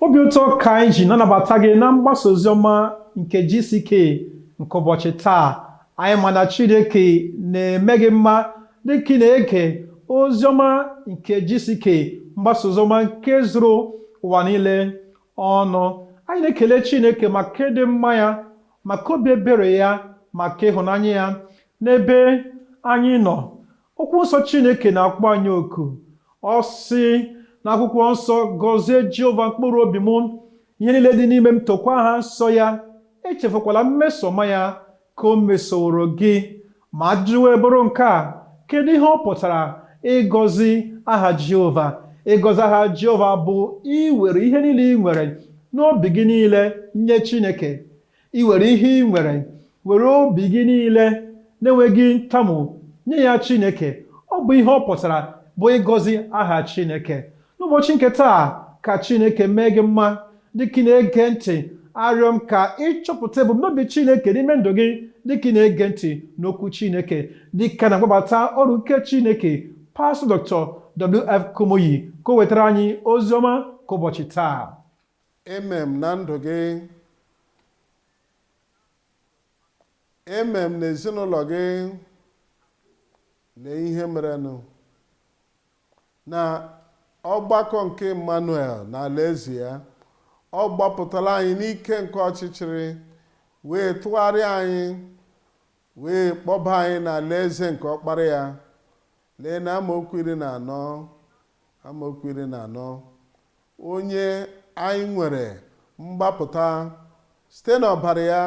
Obi ụtọ ka anyị ji na-anabata gị na mgbasa ozi ọma nke GCK nke ụbọchị taa. Anyị ma na Chineke na-eme gị mma dị ka ị na-ege ozi ọma nke GCK mgbasa ozi ọma nke zuru ụwa niile ọnụ. Anyị na-ekele Chineke maka ịdị mma ya, maka obi ebere ya, maka ịhụnanya ya n'ebe anyị nọ. okwu nsọ chineke na-akpọ anyị oku ọ sị na akwụkwọ nsọ gọzie jehova mkpụrụ obi m ihe niile dị n'ime m tokwa aha nsọ ya echefukwala mmeso ọma ya ka o mesoworo gị ma ajụjụ wee bụrụ nke a kedu ihe ọ pụtara ịgọzi aha jehova ịgọzi aha jehova bụ iwere ihe niile i nwere n'obi gị niile nye chineke iwere ihe i nwere were obi gị niile na-enweghị ntamu nye ya chineke ọ bụ ihe ọ pụtara bụ ịgọzi aha chineke n'ụbọchị nke taa ka chineke mee gị mma dịka ị na-ege ntị arịọ m ka ị chọpụta ebumnobi chineke n'ime ndụ gị dịka ị na-ege ntị n'okwu chineke dịka na-akpọbata oru nke chineke pastọ dr wf kumuyi ka o wetara anyị ozi ọma nke ụbọchị taa Amen na ndụ gị. Amen na ezinụlọ gị. Lee ihe merenụ na ọgbakọ nke Emmanuel na alaeze ya ọ gbapụtara anyị n'ike nke ọchịchịrị wee tụgharịa anyị wee kpọba anyị na alaeze nke ọkpara ya lee na amaokwu iri na anọ amaokwu iri na anọ Onye anyị nwere mgbapụta site n'ọbara ya,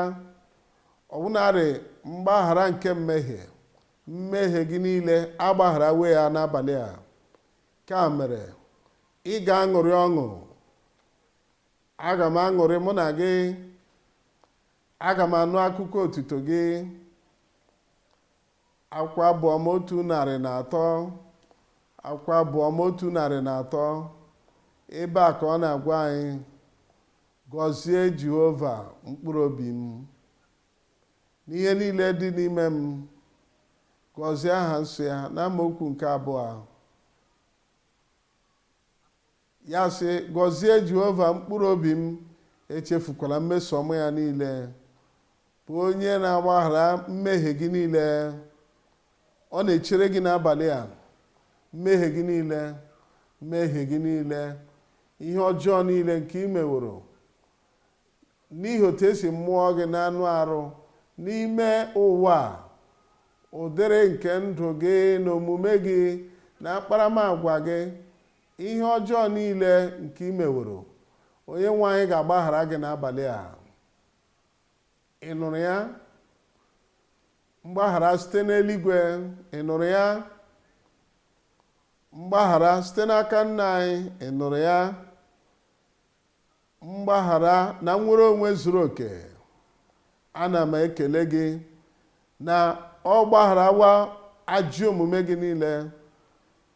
ọbụnarị mgbaghara nke mmehie, mmehie gị niile agbagharawo ya n'abalị a. Nke a mere, ị ga-aṅụrị ọṅụ. Aga m aṅụrị mụ na gị. Aga m anụ akụkọ otuto gị. Akwụkwọ Abụ Ọma otu narị na atọ akwụkwọ Abụ Ọma otu narị na atọ ebe a ka ọ na-agwa anyị gọzie Jehova mkpụrụ obi m n'ihe niile dị n'ime m gọzie aha nsọ ya n'amaokwu nke abụọ Ya sị, Gọzie Jehova mkpụrụ obi m, echefukwala mmeso ọma ya niile, bụ onye na-agbaghara mmehie gị niile. Ọ na-echere gị n'abalị a, mmehie gị niile, mmehie gị niile, ihe ọjọọ niile nke i meworo n'ihi otu e si mụọ gị n'anụ arụ n'ime ụwa ụdịrị nke ndụ gị na omume gị na akparamagwa gị Ihe ọjọọ niile nke i meworo, Onyenwe anyị ga-agbaghara gị n'abalị a. Ị nụrụ ya? Mgbaghara site n'eluigwe, ị nụrụ ya? Mgbaghara site n'aka Nna anyị, ị nụrụ ya? mgbaghara na nnwere onwe zuru oke ana m ekele gị na ọ gbagharawa ajọ omume gị niile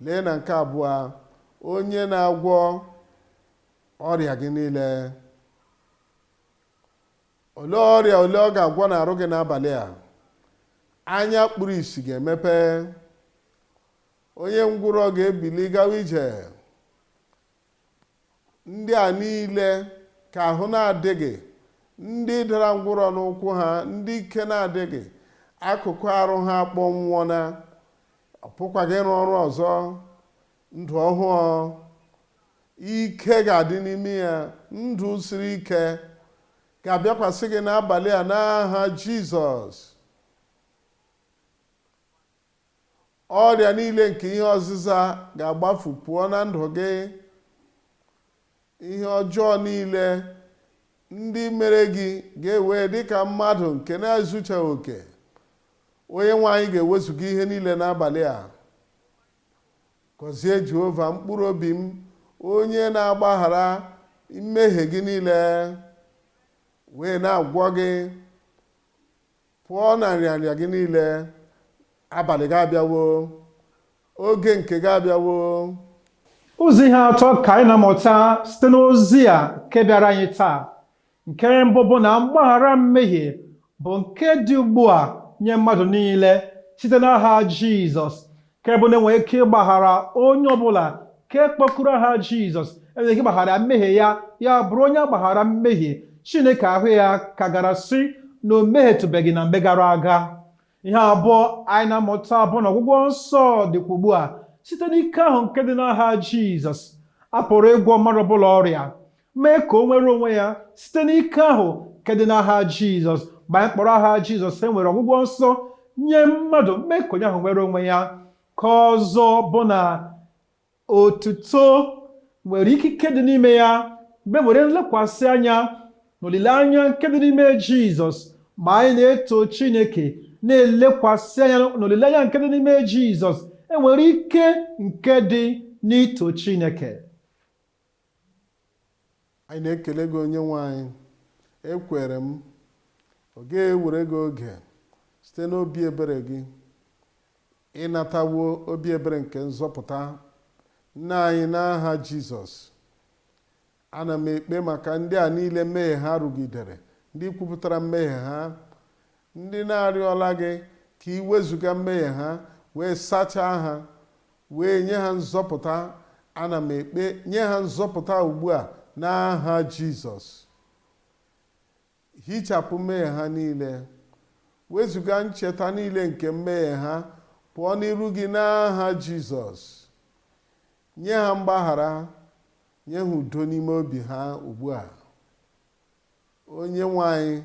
lee na nke abụọ onye na-agwọ ọrịa gị niile olee ọrịa ole ọ ga-agwọ n'arụ gị n'abalị a anya kpuru isi ga-emepe onye ngwụrọ ga-ebili gawa ije ndị a niile ka ahụ na-adịghị ndị dara ngwụrọ n'ụkwụ ha ndị ike na-adịghị akụkụ arụ ha akpọnwụọ na ọ pụkwaghị ịrụ ọrụ ọzọ ndụ ọhụụ ike ga-adị n'ime ya ndụ siri ike ga-abịakwasị gị n'abalị a n'aha jizọs Ọrịa niile nke ihe ọzịza ga-agbafu pụọ na ndụ gị. Ihe ọjọọ niile ndị mere gị gị ewee dị ka mmadụ nke na-ezuchaghị oke. Onye nwe anyị ga-ewezuga ihe niile n'abalị a. Gọzie Jehova mkpụrụ obi m, onye na-agbaghara mmehie gị niile wee na-agwọ gị. pụọ na nrịanrịa gị niile abalị gị abịawo oge nke gị abịawo ụzọ ihe atọ ka anyị na-amụta site n'ozi a nke bịara anyị taa nke mbụ bụ na mgbaghara mmehie bụ nke dị ugbu a nye mmadụ niile site n'aha Jizọs nke bụ na enwere ike ịgbaghara onye ọbụla nke kpọkuru aha jizọs enwere ike ịgbaghara ya mmehie ya ya bụrụ onye a gbaghara mmehie chineke ahụ ya ka gara sị na o mehietụbeghị na mgbe gara aga ihe abụọ anyị na-amụta bụ na ọgwụgwọ nsọ dịkwa ugbu a site n'ike ahụ nke dị n'aha jizọs a pụrụ ịgwọ mmadụ ọbụla ọrịa mee ka o nwere onwe ya site n'ike ahụ nke dị n'aha jizọs mgbe anyị kpọrọ aha jizọs e nwere ọgwụgwọ nsọ nye mmadụ mee ka onye ahụ nwere onwe ya nke ọzọ bụ na otuto nwere ikike dị n'ime ya mgbe e nwere nlekwasị anya na olileanya nke dị n'ime jizọs mgbe anyị na-eto chineke na-elekwasị anya na olileanya nke dị n'ime jizọs enwere ike nke dị n'ito chineke anyị na-ekele gị onye nwe anyị ekwere m ọ ga-ewere gị oge site n'obi ebere gị ịnatawo obi ebere nke nzọpụta nna anyị n'aha jizọs ana m ekpe maka ndị a niile mmehie ha rụgidere ndị kwupụtara mmehie ha ndị na-arịọla gị ka ị wezuga mmehie ha wee sachaa ha wee nye ha nzọpụta ana m ekpe nye ha nzọpụta ugbu a n'aha jizọs hichapụ mmehie ha niile wezuga ncheta niile nke mmehie ha pụọ n'iru gị n'aha jizọs nye ha mgbaghara nye ha udo n'ime obi ha ugbu a onye nwe anyị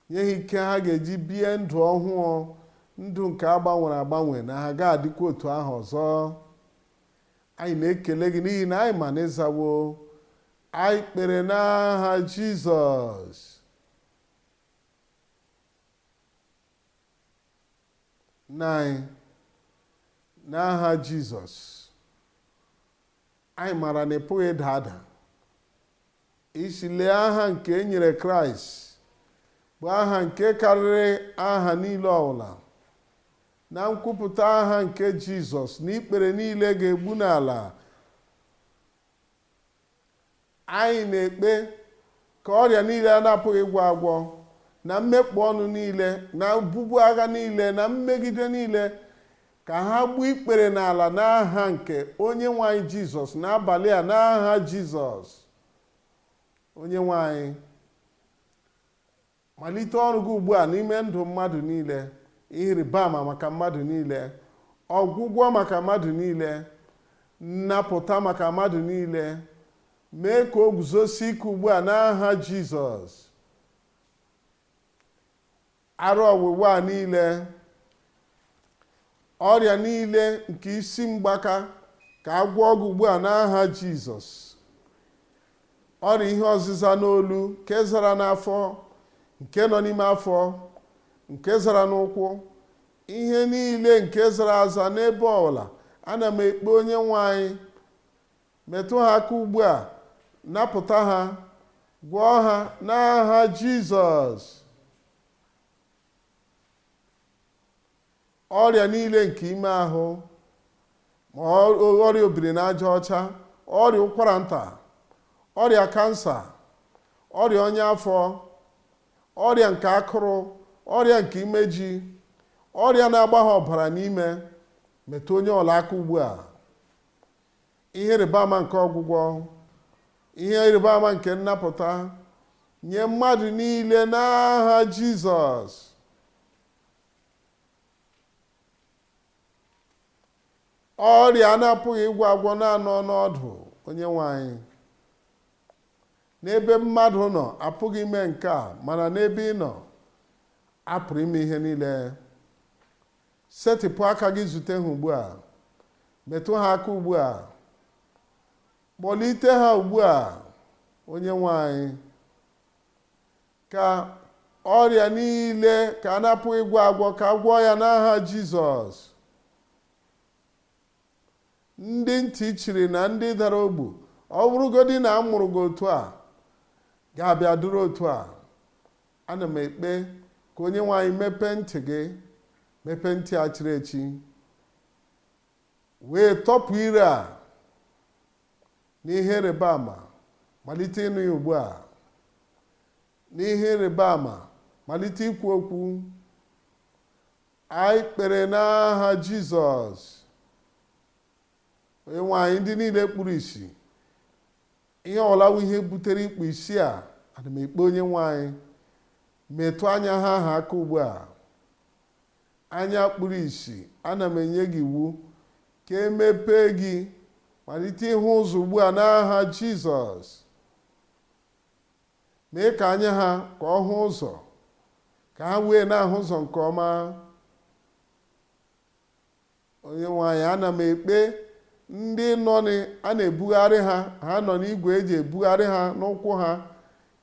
nye ha ike ha ga-eji bie ndụ ọhụụ ndụ nke a gbanwere agbanwe na ha ga-adịkwa otu ahụ ọzọ anyị na-ekele gị n'ihi na anyị ma na ị zawo anyị kpere n'aha jizọs nna anyị n'aha jizọs anyị maara na ị pụghị ịda ada ị sị lee aha nke e nyere kraịst bụ aha nke karịrị aha niile ọbụla na nkwupụta aha nke jizọs na ikpere niile ga-egbu n'ala anyị na-ekpe ka ọrịa niile a na-apụghị ịgwọ agwọ na mmekpọ ọnụ niile na obubu agha niile na mmegide niile Ka ha gbuo ikpere n'ala n'aha nke Onyenwe anyị Jizọs n'abalị a n'aha Jizọs. Onyenwe anyị, malite ọrụ gị ugbu a n'ime ndụ mmadụ niile, ihe ịrịba ama maka mmadụ niile, ọgwụgwọ maka mmadụ niile, nnapụta maka mmadụ niile. Mee ka o guzosie ike ugbu a n'aha Jizọs. ara ọwụwa a niile ọrịa niile nke isi mgbaka ka a gwọọ gị ugbu a n'aha jizọs ọrịa ihe ọzịza n'olu nke zara n'afọ nke nọ n'ime afọ nke zara n'ụkwụ ihe niile nke zara aza n'ebe ọbụla ana m ekpe onye nwe anyị Metụ ha aka ugbu a, napụta ha, gwọọ ha n'aha Jizọs. Ọrịa niile nke ime ahụ, ma ọ- ọrịa obiri n'aja ọcha, ọrịa ụkwara nta, ọrịa kansa, ọrịa ọnya afọ, ọrịa nke akụrụ, ọrịa nke imeji, ọrịa na-agba ha ọbara n'ime, metụ onye ọbụla aka ugbu a. ihe ịrịba ama nke ọgwụgwọ ihe ịrịba ama nke nnapụta nye mmadụ niile n'aha jizọs ọrịa a na-apụghị ịgwọ agwọ na-anọ n'ọdụ onye nwe anyị n'ebe mmadụ nọ apụghị ime nke a mana n'ebe ị nọ a pụrụ ime ihe niile Setịpụ aka gị zute ha ugbu a. Metụ ha aka ugbu a. Kpọlite ha ugbu a, onye nwe anyị. Ka ọrịa niile ka a na-apụghị ịgwọ agwọ ka a gwọọ ya n'aha Jizọs. Ndị ntị chiri na ndị dara ogbu, ọ bụrụgodị na a mụrụ gị otu a, ga-abịa dịrị otu a. ana m ekpe ka onye nwe anyị mepee ntị gị mepee ntị a chiri echi wee tọpụ ire a n'ihe ịrịba ama malite ịnụ ya ugbu a n'ihe ịrịba ama malite ikwu okwu anyị kpere n'aha jizọs onye nwe anyị ndị niile kpuru isi ihe ọwụla wụ ihe butere ikpu isi a ana m ekpe onye nwe anyị metụ anya ha ahụ aka ugbu a anya kpuru isi ana m enye gị iwu ka e mepee gị malite ịhụ ụzọ ugbu a n'aha jizọs mee ka anya ha ka ọ hụ ụzọ ka ha wee na-ahụ ụzọ nke ọma Onyenwe anyị, ana m ekpe ndị nọ n'ị- a na-ebugharị ha ha nọ n'igwe e ji ebugharị ha n'ụkwụ ha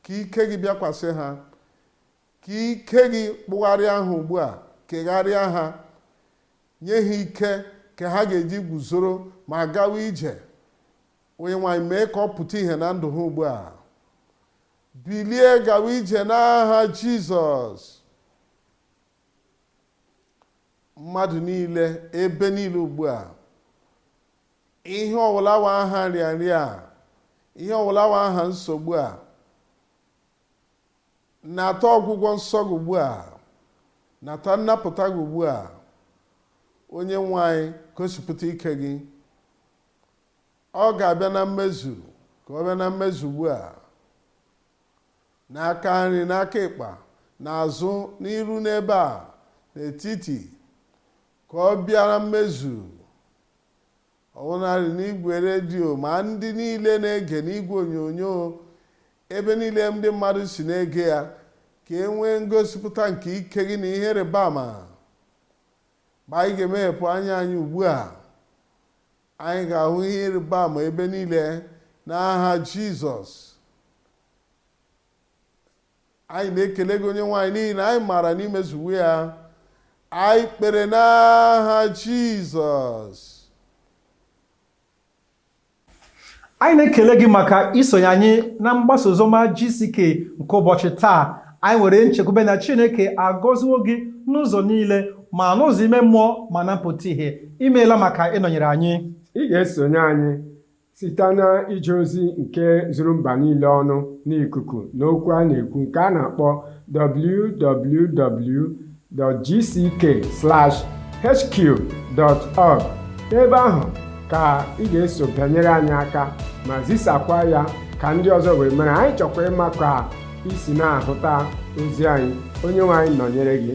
ka ike gị bịakwasị ha ka ike gị kpụgharịa ha ugbu a kegharịa ha nye ha ike ka ha ga-eji guzoro ma gawa ije onyenwe anyị mee ka ọ pụta ihe na ndụ ha ugbu a bilie gawa ije n'aha jizọs mmadụ niile ebe niile ugbu a ihe ọwụla wụ aha nrịanrịa a ihe ọwụla wụ aha nsogbu a nata ọgwụgwọ nsọ gị ugbu a nata nnapụta gị ugbu a onye nwe anyị gosipụta ike gị ọ ga-abịa na mmezu ka ọ bịa na mmezu ugbu a N'aka nri, n'aka ịkpa, n'azụ, n'iru n'ebe a, n'etiti, ka ọ bịa na mmezu. Ọbụnadị n'igwe redio ma ndị niile na-ege n'igwe onyonyo ebe niile ndị mmadụ si na-ege ya ka e nwee ngosipụta nke ike gị na ihe ịrịba ama ma anyị ga-emeghepụ anya anyị ugbu a Anyị ga-ahụ ihe ịrịba ama ebe niile n'aha Jizọs. Anyị na-ekele gị onye nwe anyị n'ihi na anyị maara na imezuwo ya. Anyị kpere n'aha Jizọs. anyị na-ekele gị maka isonye anyị na mgbasa oziọma GCK nke ụbọchị taa anyị nwere nchekwube na Chineke agọziwo gị n'ụzọ niile ma n'ụzọ ime mmụọ ma na mpụta ihe imeela maka ịnọnyere anyị ị ga-esonye anyị site na ije ozi nke zuru mba niile ọnụ n'ikuku n'okwu a na-ekwu nke a na-akpọ www.gck/hq.org ebe ahụ ka ị ga-eso bịanyere anyị aka ma zisakwa ya ka ndị ọzọ wee mara anyị chọkwa ịma ka isi na-ahụta ozi anyị onye nwe anyị nọnyere gị